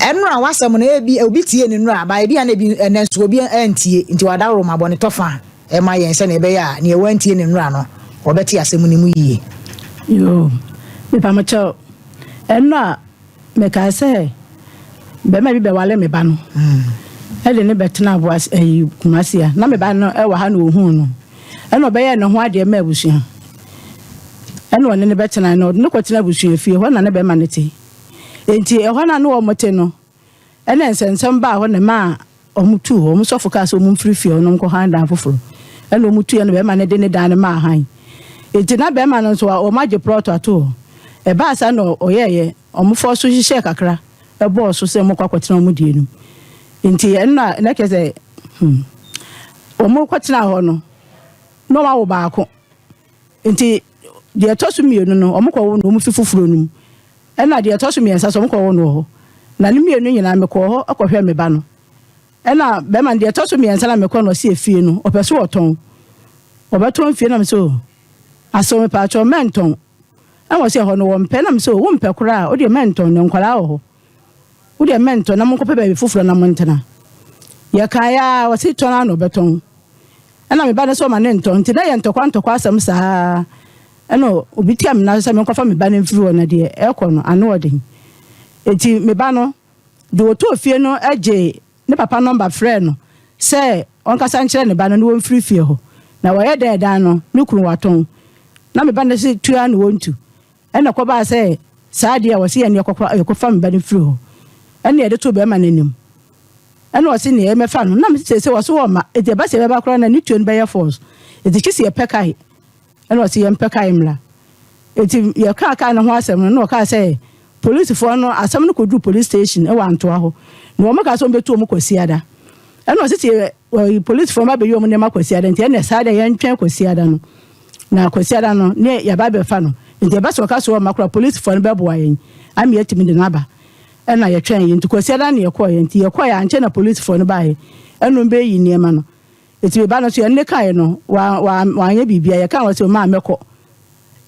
Nnora ho asɛm no, ebia obi tiee ne nnora, but ebia na ebi, ɛnnɛ nso obi antie. Enti w'adaworo ma bɔne tɔ fã ma yɛn sɛnea ɛbɛyɛ a nea wantie ne nnora no, ɔbɛte asɛm no mu yiye. Yoo, mepa mo kyɛw. Ɛno a mekae sɛ bɛma bi bɛware me ba no ɛde no bɛtena aboas ɛyi kumasi a na me ba no ɛwɔ ha na ohuu no ɛna ɔbɛyɛ ne ho adeɛ ma abusua ɛna ɔne ne bɛtena na ɔde no kɔtena abusua fie hɔ na ne bɛma no te Enti ɛhɔ no a na wɔte no, ɛna nsɛnsɛm baa hɔ na ɛmaa wɔtuu hɔ. Wɔn sɔfo kaa sɛ wɔmfiri fie hɔ na wɔnkɔ hann dan foforo. Ɛna wɔtuiɛ na barima no de ne dan no maa hann. Enti na barima no nso, wɔagye plɔt ato hɔ. Ɛbaa saa na ɔyɛeɛ, wɔfɔɔ so hyehyɛɛ kakra bɔɔ so sɛ wɔkɔ akɔtena wɔn deɛ no mu. Enti ɛno na na kyerɛ sɛ hmm, wɔkɔtenaa hɔ no, na wɔawo baako. Nti deɛ ɛtɔ so mmienu no, wɔkɔwo no wɔn fi foforɔ no mu. Ɛna deɛ ɛtɔ so mmiɛnsa so wɔkɔwo no wɔ hɔ. Na ne mmienu nyinaa mekɔɔ hɔ kɔhwɛ me ba no. Ɛna bɛrima no deɛ ɛtɔ so mmiɛnsa na mekɔ no ɔsi efie no ɔpɛ so ɔtɔn. Ɔbɛtɔn fie na me sɛ o asɛw me paatwɔ mɛntɔn. Ɛna ɔsi ɛhɔ no wɔmpɛ na me sɛ o wompɛ koraa a wodeɛ mɛntɔn na nkwadaa wɔ hɔ. Wo deɛ mɛntɔ na monkɔpɛ baabi foforɔ na montena. Yɛkaeɛ ara, ɔse tɔn ara na ɔbɛtɔn. Ɛna me ba no sɛ ɔma no ntɔ. Nti na yɛ ntɔkwa ntɔkwa asɛm saa ara. Ɛna obi tia me nan so sɛ menkɔfa me ba no mfiri hɔ na deɛ ɛrekɔ no ano wɔ den. Nti me ba no, deɛ ɔtɔɔ fie no gyee ne papa nɔmba frɛɛ no sɛ ɔnkasa nkyerɛ ne ba no na wɔmfiri fie hɔ. Na wɔyɛ dɛn dan no, ne kunu watɔn. Na me ba no se tu ara na ɔntu. Ɛnna ɛkɔbaa sɛ saa adeɛ a wɔse yɛn deɛ kɔkora yɛkɔfa me ba no firi hɔ, ɛnna yɛde too barima no anim. Ɛnna ɔse neɛ yɛmmɛfa no, na seesei ɔse ɔwɔ mma, enti ɛba sɛ yɛbɛba koraa no a, ne tuo no bɛyɛ false. Enti gye sɛ yɛpɛ kae. Ɛnna ɔse yɛmpɛ kae mmra. Enti yɛkaa kae no ho asɛm no, ɛnna ɔkaa sɛ polisifoɔ no, asɛm no kɔduruu police station wɔ Antoa hɔ, na wɔkaa sɛ wɔbɛtu wɔn Kwasiada. Ɛnna ɔse sɛ polisifoɔ no ba bɛyi wɔn nneɛma Kwasiada nti, ɛnna saa deɛ yɛntwɛn Kwasiada no. Na Kwasiada no ne yɛba abɛfa no, nti ɛba sɛ ɔka sɛ ɔmma koraa polisfoɔ no bɛboa yɛn ama yɛatumi de no aba. Ɛna yɛtwɛnee, nti Kwasiada no na yɛkɔeɛ, nti yɛkɔeɛ ankyɛ na polisfoɔ no baeɛ ɛna wɔn bɛɛyi nneɛma no. Nti me ba no nso yɛne no kaeɛ no, wa, wa, wanyɛ biribiara, yɛkaa wɔ sɛ ɔmaa mɛkɔ.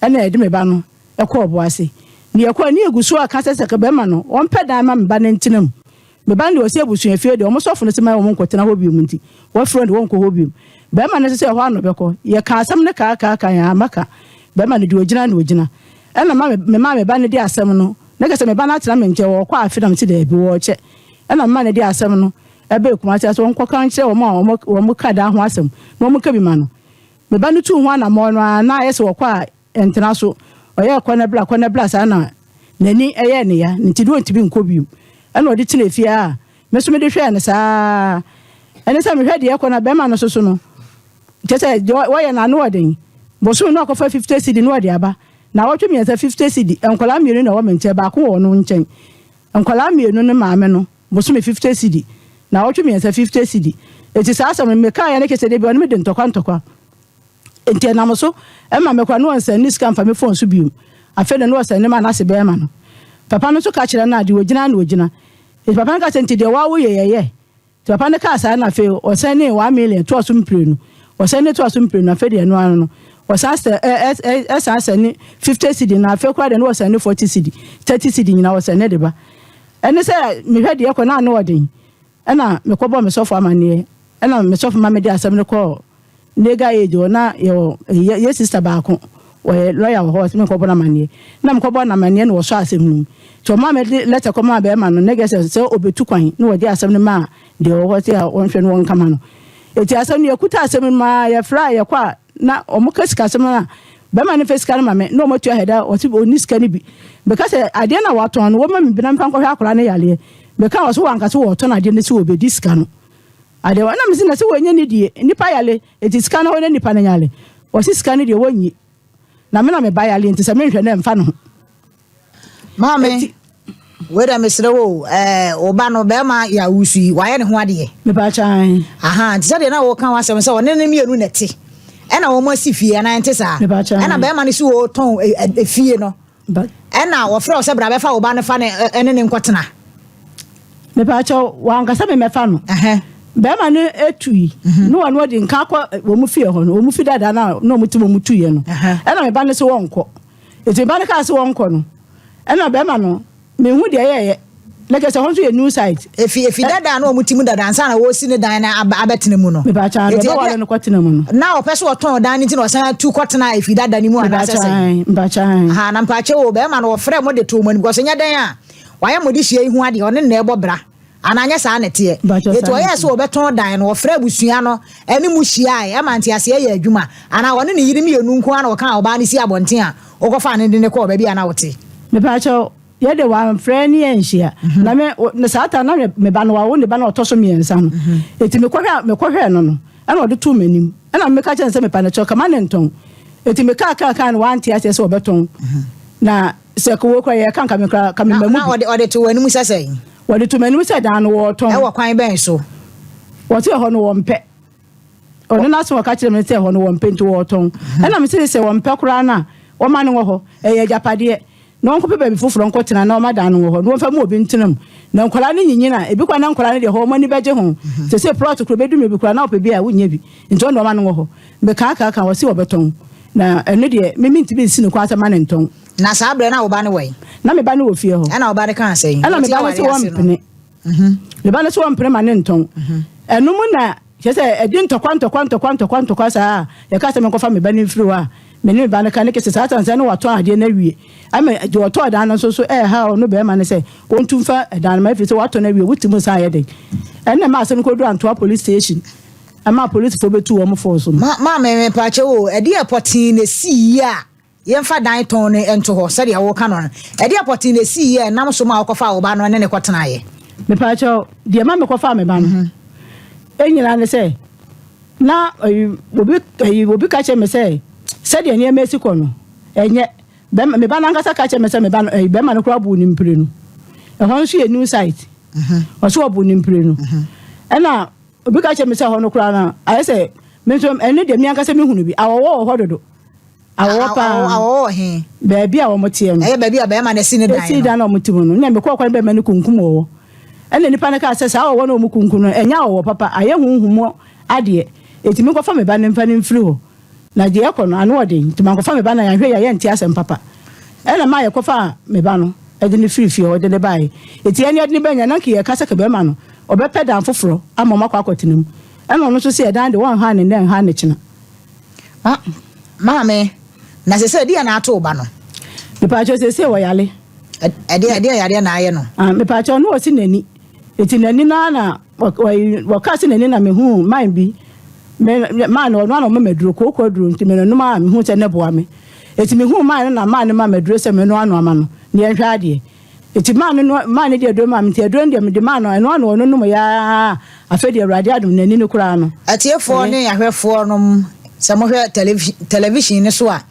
Ɛna yɛde me ba no ɛkɔɔ boase. Ne yɛkɔeɛ ne yɛgu so aka sɛ sɛ ka bɛma no, ɔmpɛ dan ma me ba no ntena mu. Me ba no deɛ ɔsi abusua fie deɛ wɔn sɔfo no se ma wɔn nkɔtena hɔ biom nti wɔafiri wɔn de wɔnkɔ hɔ biom. Barima no nso sɛ ɛhɔ ara na ɔbɛkɔ. Yɛkaa asɛm no kaakaaka yɛn ara maka. Barima no deɛ ɔgyina na ɔgyina. Ɛna ma me maa me ba no de asɛm no na kɛ sɛ me ba no atena me nkyɛn ɔrekɔ afe na mese daabi wɔrekyɛ. Ɛna mema no de asɛm no ɛbɛɛ Kumasi ase ɔnkɔka nkyerɛ wɔn a wɔn wɔn ka daa ho asɛm na wɔn ka bi ma no. Me ba no tuu ho anammɔn no ara na ayɛ sɛ wɔkɔ a Ɛntena so. Ɔyɛɛ kɔ na bra, kɔ na bra saa na n'ani yɛɛ ne ya, nti na ɔntumi nkɔ bio. Ɛna ɔde tenaa fie a me nso mede hwɛɛ no saa ara. Ɛne sɛ mehwɛ deɛ ɛkɔ na bɛrima no nso so no, kyerɛ sɛ deɛ wɔyɛ no ano yɛ den. Bosome na ɔkɔfa 50 cedi na ɔde aba. Naawɔtwe mmiɛnsa 50 cedi. Nkwadaa mmienu na ɛwɔ me nkyɛn, baako wɔ ɔno nkyɛn. Nkwadaa mmienu ne maame no, bosome 50 cedi. Naawɔtwe mmiɛnsa 50 cedi. Enti saa asɛm no mekaaeɛ no kyerɛ sɛ da bi ɔne me di ntɔkwa ntɔkwa. Enti ɛnam so ma me kwan na ɔnsan nni sika mfa me fon so bio. Afei no na ɔsan nim a n'ase bɛyɛ ma no. Papa no nso ka kyerɛ no a, deɛ ɔgyina na ɔgyina. Enti papa no ka sɛ, nti deɛ wo ara woyɛ yɛ yɛ. Nti papa no kaa saa na afei ɔsan nii one million toa so mprenu. Ɔsan ni toa so mprenu, afei deɛ ɛno ara no, ɔsan sɛ, ɛ, ɛ, ɛ, ɛsan sɛ ne fifty cedi na afei koraa deɛ na ɔsan ne forty cedi, thirty cedi nyinaa ɔsan ne de ba. Ɛne sɛ mehwɛ deɛ ɛkɔ na ano ɔden. Ɛna me kɔ bɔɔ me sɔfo amaneɛ ɛna me sɔfo ma me de asɛm no kɔɔ legal aid hɔ na yɛwɔ yɛ yɛ sister baako wɔyɛ lawyer wɔ hɔ ɔsɛ me nkɔ bɔ no amaneɛ na me kɔ bɔɔ no amaneɛ na wɔsɔ asɛm no mu nti ɔmaa me de letter kɔ maa bɛrima no na gɛsɛ sɛ ɔbɛtu kwan na wɔde asɛm no maa deɛ ɔwɔ hɔ sɛ a wɔnhwɛ no wɔnka ma no eti asɛm no yɛkuta asɛm no mu aa yɛfrɛ a yɛkɔ a na wɔka sikasɛm no a, bɛrima no mfa sika no ma me na wɔatua hɛda a ɔse ɔnni sika no bi. Meka sɛ, adeɛ no a watɔn no, wɔmma me bi na memfa nkɔhwɛ akwadaa no yareɛ. Meka a, ɔse wanka sɛ wɔretɔn adeɛ no sɛ wɔbɛdi sika no. Adeɛ wɔ na mese na sɛ wɔnyɛ ne die, nnipa yare, enti sika no hɔ na nnipa no yare. Ɔse sika no deɛ wɔnyi. Na me na me ba yare enti sɛ menhwɛ no ɛmfa ne ho. Maame, wei dɛ mesrɛ wo o, ɛɛ wo ba no bɛrima yɛ awusu yi, wayɛ ne ho adeɛ. Mepaakyɛn. Aha, te sɛ deɛ na wɔka ho asɛm sɛ ɔne ne mmienu na ɛte. Ɛna wɔn asi fie anaa ɛnte saa? Mepaakyɛn. Ɛna bɛrima no si wɔtɔn e, e, e, fie no. But. Ɛna wɔfrɛ wo sɛ bra bɛfa wo ba no fa ne ɛne ne nkɔtena. Mepaakyɛn, wankasa me mɛfa no. Ɛhɛn. Bɛrima no etui. Mhm. Ne wɔn ɔde nka akɔ wɔn fie hɔ no, wɔn fi dada na na wɔn ti wɔn tuyɛ no. Ɛna me ba no so wɔnkɔ. Ntsi mba no kaa se wɔnkɔ no, nna bɛrima no, mennhu deɛ yɛɛyɛ, na kyerɛ sɛ hɔ nso yɛ new site. Efi efi Ɛ. dada a na wɔn te mu dada ansa na wɔresi ne dan no aba abɛtena mu no. Mebaakyɛ aane, Enti ɔbɛware ɛdeɛ no kɔtena mu no. na ɔpɛ sɛ ɔtɔn dan no nti na ɔsan tu kɔtenaa efi dada no mu anaa Mebaakyɛ sɛ sɛn? aane, mebaakyɛ aane. Ahaa, na mpaakyɛw o, bɛrima no wɔfrɛɛ mo de too mo anim, because ɛnyɛ dɛn a wɔayɛ mo dehyeɛ yi ho adeɛ, ɔne no na ɛrebɔ bra. Anaa ɛnyɛ saa na ɛteɛ? Enti wɔyɛɛ sɛ wɔbɛtɔn dan no, wɔfrɛɛ abusua no ne mu hyiae maa nteaseɛ yɛɛ adwuma. Anaa ɔne ne yere mmienu nko ara na wɔkaa ɔbaa no sii abɔnten a wɔkɔfaa no de no kɔɔ baabi a na ɔte. Mepa kyɛw, yɛ de wamfrɛ ne yɛn anhyia. Na me, na saa ta na me ba no, wawo ne ba no a ɔtɔ so mmiɛnsa no. Enti mekɔhwɛ, mekɔhwɛɛ no no, ɛna ɔde too m'anim. Ɛna meka kyerɛɛ no sɛ, Mepa no kyɛw, ka ma ne ntɔn. Enti mekaa kaa kaa no, wante aseɛ sɛ wɔbɛtɔn. Na. Sɛ kowɔ kora yɛ ka nka me kora ka me ma mu bi. Na ɔde to wɔn anim sɛ sɛn? Wɔde to m'anim sɛ dan no wɔretɔn. Ɛwɔ kwan bɛn so? Wɔte ɛhɔ no wɔmpɛ. Ɔno n'ase wɔka kyerɛ me sɛ ɛhɔ no wɔmpɛ nti wɔretɔn. Mhm. Ɛna me sɛ sɛ wɔmpɛ koraa no a wɔma no wɔ hɔ. Ɛyɛ agyapadeɛ. Na wɔnkɔpɛ baabi foforɔ nkɔtena na wɔma dan no wɔ hɔ. Na wɔmfa mu obi ntena mu. Na nkwadaa no nyinyin a ebi koraa na nkwadaa no deɛ hɔ wɔn ani bɛgye ho. Mhm. Sɛ sɛ plɔt koro bɛdu mmiri bi koraa na wɔpɛ bi a wonnya bi. Nti ɔno wɔma no wɔ hɔ. Mekaakaa ka, wɔse wɔbɛtɔn, na ɛno deɛ me mentumi nsi no kwan sɛ mma no ntɔn. Na saa berɛ no na wo ba no wɔ he? Na me ba no wɔ fie hɔ. Ɛna wo ba no kaa sɛ he? Ɛna me ba no se wɔmpene. Me ba no se wɔmpene ma no ntɔn. Ɛno mu na, kyerɛ sɛ, ɛde ntɔkwa ntɔkwa ntɔkwa ntɔkwa ntɔkwa saa a, yɛkaa sɛ menkɔfa me ba no mfiri hɔ a, me ne me ba no ka ne kese saa sane sɛ na watɔn adeɛ no awie. Ama deɛ ɔtɔɔ dan no nso so ɛreha ɔno bɛrima no sɛ wɔntu mfa dan no ma ɛfiri sɛ watɔn awie, wote mu saa yɛ den. Ɛnna ɛma asɛm no kɔduru Antoa Police Station. Ɛmaa polisifo betuu wɔn fɔɔ so no. Ma ma me mepaakyɛw o, ɛdeɛ pɔtee na esii yi a yɛmfa dan tɔn no nto hɔ sɛdeɛ woka no no? Ɛdeɛ pɔtee na esii yi a ɛnam so maa wokɔfaa wo ba no ne no kɔtenaeɛ? Mepaakyɛw, deɛ ɛma mekɔfaa me ba no nyinaa ne sɛ, na ɛyi obi ɛyi obi ka kyerɛ me sɛ sɛdeɛ nneɛma esi kɔ no ɛnyɛ bɛrima me ba no ankasa ka kyerɛ me sɛ me ba no ɛyi bɛrima no koraa buu ne mpire no ɛhɔ nso yɛ new site ɔso ɔbuu ne mpire no ɛna Obi ka kyerɛ me sɛ hɔ no koraa no, ayɛ sɛ me nso ɛno deɛ me ankasa mehunu bi. Awɔwɔ wɔ hɔ dodo. Awɔwɔ paa. Awɔwɔ wɔ he? Baabi a wɔn teɛ no. Ɛyɛ baabi a bɛrima no asi ne dan no. Asi dan a wɔn te mu no. Nna mekɔɔ kwan bɛrima no kunkum wɔwɔ. Ɛna nipa no kaa sɛ saa wɔwɔ no wɔn kunkum no, ɛnyɛ awɔwɔ papa, ayɛ honhom mu adeɛ. Eti menkɔfa me ba no mfa no mfiri hɔ. Na gye yɛkɔ no ano wɔ den nti mankɔfa me ba na yɛanhwɛ yie a yɛnte asɛm papa. Ɛna ɛmaa yɛkɔfaa me ba no de no firii fie hɔ de no baeɛ. Enti yɛne yɛde no baeɛ nyinaa na nka yɛreka sɛ ka bɛrima no ɔbɛpɛ dan foforɔ ama wɔakɔ akɔtena mu. Ɛna ɔno nso sɛ ɛdan deɛ wɔnhaa no nnɛ nhaa no kyena. Ma, maame, na seesei deɛ na ato wo ba no? Mepaakyɛw, seesei wɔyare. Ɛ, ɛdeɛ, ɛdeɛ yareɛ na ayɛ no? Ah, mepaakyɛw, na ɔsi n'ani. Nti n'ani no ara na wɔka sɛ n'ani na mehuu man bi man no ɔno ara na ɔma maduro kooko aduro nti menonom a mehuu sɛ ne boa me nti mehuu man no na man no ma maduro sɛ menoa no ama no ne yɛnhwɛ adeɛ nti man no man no de aduro ma me nti aduro no deɛ mede man no ɛno ano ɔno nom yaa afei deɛ awurade adom n'ani no koraa no. Atiefoɔ ne ahwɛfoɔ nom sɛ mohwɛ television no so a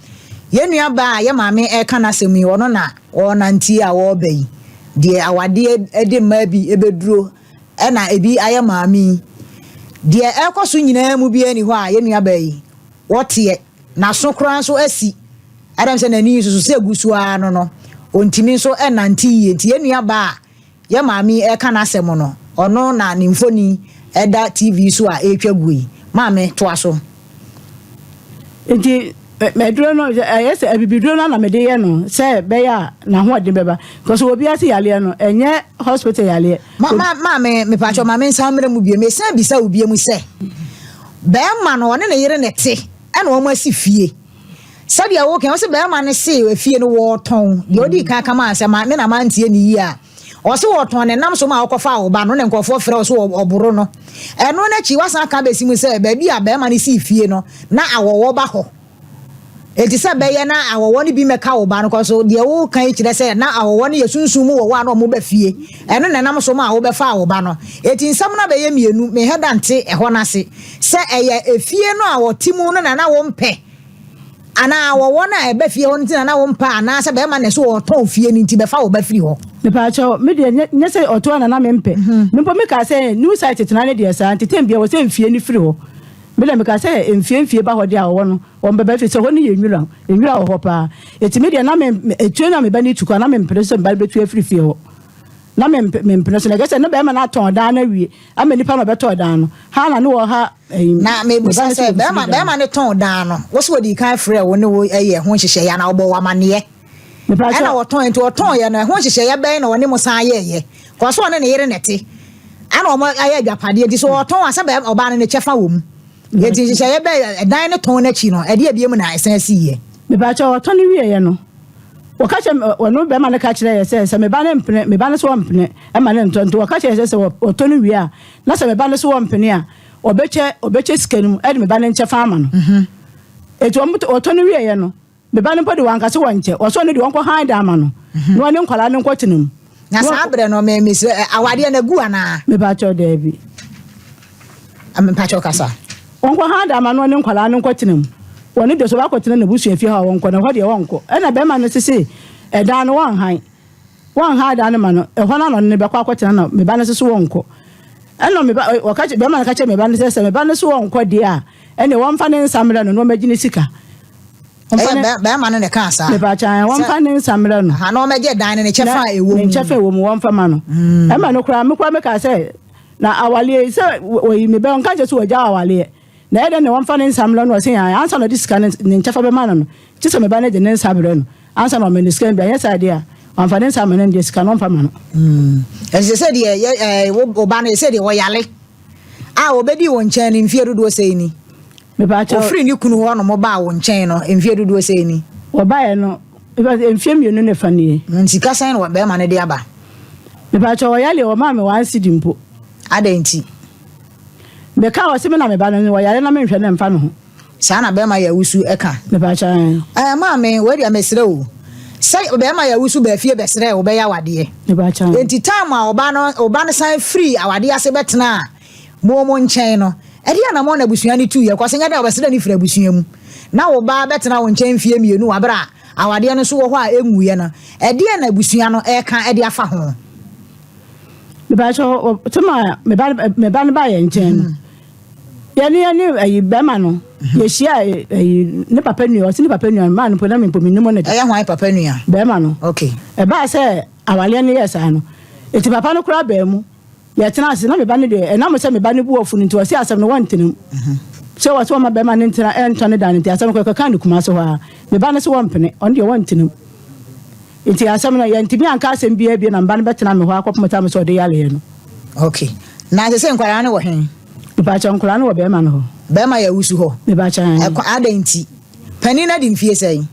yɛn nua baa a yɛ maame ɛka n'asɛm yi ɔno na Wɔrenante yi a wɔreba yi, deɛ awadeɛ de mmaa bi bɛduro na ebi ayɛ maame yi. Deɛ ɛrekɔ so nyinaa mu biara ni hɔ a yɛn nuabaa yi, wɔteɛ. N'aso koraa nso asi. Adam sɛ n'ani nso so sɛ gu so ara no no, ɔntumi nso nnante yie. Nti yɛn nuabaa a Yɛ maame yi ɛka n'asɛm no ɔno na ne mfoni ɛda TV so a ɛretwa guo yi. Maame toa so. Nti aduro no ɛyɛ sɛ abibiduro no na mede yɛ no sɛ bɛyɛ a n'ahoɔden bɛba because wɔ bi ase yaleɛ no ɛnyɛ hospital yaleɛ. Ma ma maame mepatwɔ maame nsan mmerɛ mu biem mesan bisa wo biem sɛ bɛrima no ɔne ne yere na ɛte ɛna wɔn asi fie. sɛdeɛ wo kan ɔsi bɛrima no se efie no wɔɔtɔn deɛ ɔdi kan kama asɛm a me na ma ntie ne yie a ɔsi wɔɔtɔn ne nam so ma ɔkɔ fa ɔba no na nkurɔfoɔ frɛ ɔso ɔboro no ɛno n'akyi wasan aka bɛsi mu sɛ baabi a bɛrima no si fie no na awɔwɔ ba hɔ eti sɛ bɛyɛ na awɔwɔ no bi mɛka ɔba no kɔ so deɛ wo kan yi kyerɛ sɛ na awɔwɔ no yɛ sunsun mu wɔwɔ a na ɔmo ba fie ɛno na nam so ma ɔbɛfa ɔba no eti nsɛm no abɛyɛ mmienu me hɛ da nte ɛhɔ n'ase sɛ ɛyɛ efie no a wɔte mu no na na wompɛ anaa wɔ wɔn a ɛba fie hɔ no nti na na wompɛ anaasɛ bɛrima na ɛsɛ wɔtɔn fie no nti bɛfa wo ba firi hɔ. Mepaakyɛ me deɛ nyɛ sɛ ɔtɔn na na mempɛ. Mhm. Mpo mekaa sɛ new site tena ne deɛ saa nti tɛm bia wɔ sɛ mfie no firi hɔ. Me deɛ mekaa sɛ mfie mfie ba hɔ deɛ a ɔwɔ no ɔmbɛba firi sɛ hɔ no yɛ nwura nwura wɔ hɔ paa. Ɛti me deɛ na me ɛtuo no a meba no tu kɔ na mempene sɛ meba no bɛtu afiri fie hɔ. Na mempene so na ɛgɛ sɛ ne bɛrima no atɔn daa no awie. Ama nnipa ma bɛtɔɔ dan no. Hana ne wɔha ɛyi. Na mebisa sɛ bɛrima bɛrima ne tɔn dan no. Wɔsi wɔdi kan frɛ wo ne wo ɛyɛ ɛho nhyehyɛeɛ anaa ɔbɔ wamaneɛ. Mepatwa. Ɛna wɔtɔn nti wɔtɔn yɛ no ɛho nhyehyɛeɛ bɛn na wɔne mo san yɛɛyɛ. Kɔso wɔne ne yere na ɛte. Ɛna wɔn ayɛ adwapadeɛ nti so wɔtɔn a sɛ bɛrima ɔbaa no ne kyɛfa wɔ mu. Yɛti nhyehyɛeɛ bɛn ɛdan ne tɔn n'akyi no ɛdeɛ bie mu na ɛsan si yɛ. Mepatwa wɔtɔn wieɛ no. Wɔka kyerɛ me, ɔno bɛrima no ka kyerɛ yɛ sɛ, sɛ me ba no mpene, me ba no so ɔmpene, ɛma no ntɔ. Nti wɔka kyerɛ yɛ sɛ, sɛ ɔtɔ no wie a, na sɛ me ba no so ɔmpene a, ɔbɛkyɛ, ɔbɛkyɛ sika no mu, ɛde me ba no nkyɛfa ama no. Nti wɔn, ɔtɔ no wieɛ no, me ba no mpo de wɔanka sɛ wɔnkyɛ, wɔsɛ ɔno deɛ ɔnkɔ hann dan ama no, na ɔne nkwadaa no nkɔtena mu. Na saa berɛ no me me sɛ awadeɛ no agu anaa. Mepakyɛw daabi. Mepakyɛw kasa. Wɔnkɔ ha da ama no ne nkwadaa no nkɔtena mu. Wɔne dɔ so wɔakɔtena n'abusua fie hɔ a wɔnkɔ na ɛhɔ deɛ wɔnkɔ. Ɛna barima no se se ɛdan no wɔnhan. Wɔnhan dan no ma no. Ɛhɔ no na ɔne no bɛkɔ akɔtena na me ba no se so wɔnkɔ. Ɛna me ba ɔka kyerɛ barima no ka kyerɛ me ba no sɛ sɛ me ba no so wɔnkɔ deɛ a ɛne wɔmfa ne nsa mmrɛ no na wɔmmɛgye ne sika. Wɔmfa Ɛyɛ ne- bɛ- bɛrima no na ɛkaa saa. Mepaakyɛ ae, wɔmfa ne nsa mmerɛ no. Aha, na wɔmmɛgye dan no ne kyɛfa a ɛwɔ mu. Ne nkyɛfa ɛwɔ mu, wɔmfa ma no. Ɛma no koraa, me koraa mekaa sɛ, na awaleɛ yi, sɛ wɔ- wɔyi me bɛ, ɔnka nkyɛ sɛ wɔagya awaleɛ. Na ɛyɛ dɛn na wɔmfa ne nsa mmerɛ no? Ɔse, ae, ansa na ɔde sika no, ne nkyɛfa bɛma no no, gye sɛ me ba no gye ne nsa berɛ no, ansa na ɔma no sika no bi. Anyɛ saa deɛ a, wamfa ne nsa amma no no deɛ, sika no ɔmfa ma no. Ɛsɛ sɛ deɛ yɛ- ɛɛ, wo wo ba no, ɛsɛ deɛ wɔyare. a obedii wo nkyɛn no mfeɛ dodoɔ sɛn ni? Mepakyɛw. Ofiri ne kunu hɔ nom baa wo nkyɛn no mfeɛ dodoɔ sɛn ni? Wɔbaeɛ no, mepakyɛw mfeɛ mmienu ne fa nie. Na sika sɛn na barima no de aba? Mepakyɛw ɔyareɛ wɔmaa me one cedi mpo. Adɛn nti? Mekaa wɔ se me na me ba no wɔyare na menhwɛ no mfa me ho. Saa na bɛɛma yɛ wusu ka. Mepakyɛw ɛɛ. Ɛɛ maame, wei deɛ mesrɛ o. Sɛ bɛɛma yɛ wusu baa fie bɛsrɛɛ wo bɛyɛ awadeɛ. Mepakyɛw ɛɛ. Enti time a ɔba no, ɔba no san firii awadeɛ ase bɛtenaa mo mo nkyɛn no, ɛdeɛ anamɔn na abusua no tuiɛ kɔ? Sɛ nyɛ dɛn a wɔbɛsrɛ no firi abusua mu. Na wo ba bɛtena wo nkyɛn mfeɛ mmienu wɔ berɛ a awadeɛ no nso wɔ hɔ a ɛnwuiɛ no, ɛdeɛn na abusua no reka de afa ho? Mepakyɛw, time a me ba no ba yɛn nkyɛn no, Yɛne yɛne ayi bɛrima no mhm. yɛhyia ayi ne papa nua ɔsi ne papa nua maa no mpo na mpo menim ne de. ɛyɛ hwan papa nua. bɛrima no. okay. ɛbaa sɛ awaleɛ no yɛ saa no eti papa no koraa bɛn mu yɛtena ase na meba ne deɛ ɛnam sɛ meba ne bu ɔfo no nti ɔsi asɛm no wɔntena mu mhm. sɛ wɔsɛ wɔma bɛrima no ntena ɛntɔ ne dan no nti asɛm no kɔkɔka ne kuma so hɔ a meba no sɛ wɔmpene ɔno deɛ wɔntena mu Nti asɛm no, yɛantumi anka asɛm biara bio na me ba no bɛtena me hɔ akɔpem ɔtam sɛ ɔde yareɛ no. Ok. Na sesei nkwadaa no wɔ hen? Mepaakyɛw, nkwadaa no wɔ bɛɛma no hɔ. Bɛɛma yɛ awusu hɔ? Mepaakyɛw, ɛɛn. Ɛkwa, adɛn nti? Panin no adi mfie sɛn?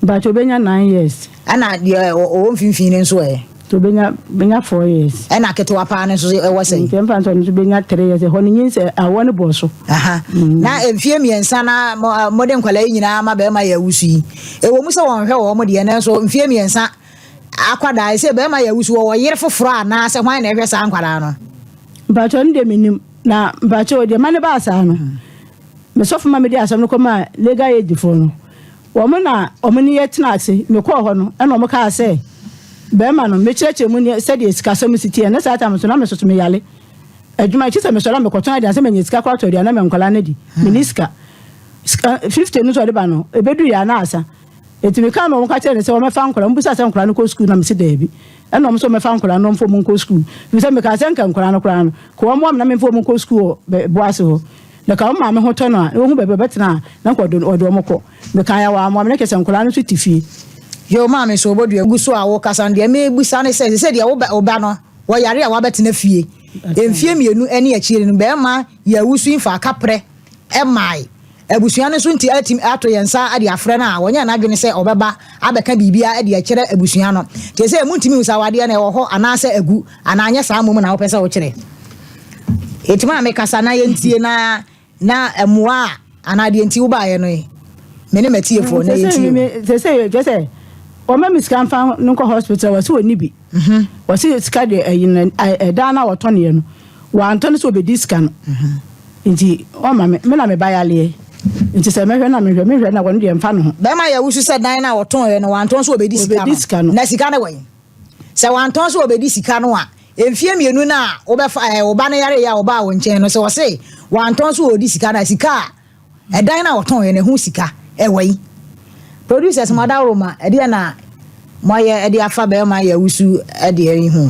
Mepaakyɛw, obɛnya nine years. Ɛna deɛ ɔwɔ mfimfini no nso ɛ? Obɛnya, obɛnya four years. Ɛna ketewa paa no nso ɛwɔ sɛn? Nti ɛmfa nso, ɔno nso obɛnya three years. Ɛhɔ no nyin sɛ awoɔ no bɔɔ so. Aha. Na mfie mmiɛnsa na mode nkwadaa yi nyinaa ama bɛɛma yɛ awusu yi. Ɛwɔ mu sɛ wɔnhwɛ wɔn deɛ, nanso mfeɛ mmiɛnsa akwadaa yi, sɛ barima yɛ awu so, wɔwɔ yere foforɔ anaa sɛ hwan na ɛhwɛ saa nkwadaa no? Mpakyɛw no deɛ menim na mpakyɛw deɛ ma no baa saa no me sɔfo ma mede asɛm no kɔ maa legal aid foɔ no wɔn na wɔn ne yɛ tena ase mekɔɔ hɔ no ɛna wɔn kaa sɛ bɛrima no mekyerɛkyerɛ mu ne sɛdeɛ sikasɛm si teɛ ne saa tam so na me soso meyale adwuma akyi sɛ mesɔre a mekɔtɔn adeɛ sɛ manya sika kɔ atɔ aduane ma nkwadaa no di mene sika Sika fifty no so ɔde ba no ebedu yɛ anaa asa eti mi kaa na ɔmo ka kyerɛ ne sɛ ɔmo ɛfa nkora ɔmo bisa sɛ nkora no kɔ sukuu na mi si dɛɛbi ɛna ɔmo sɛ ɔmo ɛfa nkora no ɔmo fɔ ɔmo nkɔ sukuu fi sɛ mi kaa sɛ nka nkora no koraa no ka ɔmo ɔmo na mi nfa ɔmo nkɔ sukuu wɔ bɛ boase hɔ na ka ɔmo maame ho tɔ no a na ohu bɛbi ɔbɛ tena a na nka ɔde ɔde ɔmo kɔ mi kaa yɛ wɔ amoa mi na kyɛ sɛ nkora no so ti fie. Yoo maame so ɔbɔ dua gu so a wo kasa no deɛ mi bisa ne sɛ sese deɛ wo bɛ ɔba no wɔ yare a wabɛ tena fie mfie mienu ɛne akyire no bɛɛma yɛ awusu nfa aka prɛ Ɛmmae. Abusua no nso nti atumi ato yɛn nsa de afrɛ no a, wɔnyɛɛ n'adwene sɛ ɔbɛba abɛka biribi de akyerɛ abusua no. Te sɛ muntumi nhu sɛ awadeɛ no ɛwɔ hɔ anaasɛ agu, anaa anyɛ saa mmom na wopɛ sɛ wokyerɛ. Enti ma mekasa na yɛntie na na mmoa a anaa deɛ nti wobaeɛ no ye. Me ne m'atiefoɔ, na yɛntie o. Seesei kyerɛ sɛ wɔma me sika mfa no nkɔ hospital a, wɔse wɔnni bi. Mhm. Ɔse yɛ sika deɛ ɛyi no ɛ dan no a ɔtɔneɛ no wantɔ no sɛ ɔbɛdi sika no nti ɔma me me na me ba yaleɛ nti sɛ mɛhwɛ na mehwɛ mehwɛ na ɔno deɛ mfa ne ho. Bɛrima yɛ wosu sɛ dan no a ɔtɔneɛ no wantɔ nso ɔbɛdi sika no ɔbɛdi sika no na sika no wɔ he? Sɛ wantɔ nso ɔbɛdi sika no a mfeɛ mmienu no a wobɛfa ɛɛ wo ba no yareɛ a ɔbaa wo nkyɛn no sɛ ɔse wantɔ nso ɔredi sika no a sika a Ɛdan no a wɔtɔn yɛ na ɛho sika ɛwɔ yi. Producers mo adaworo ma ɛdeɛ na mo ayɛ ɛde afa bɛɛma yɛ wusu ɛdeɛ yi ho.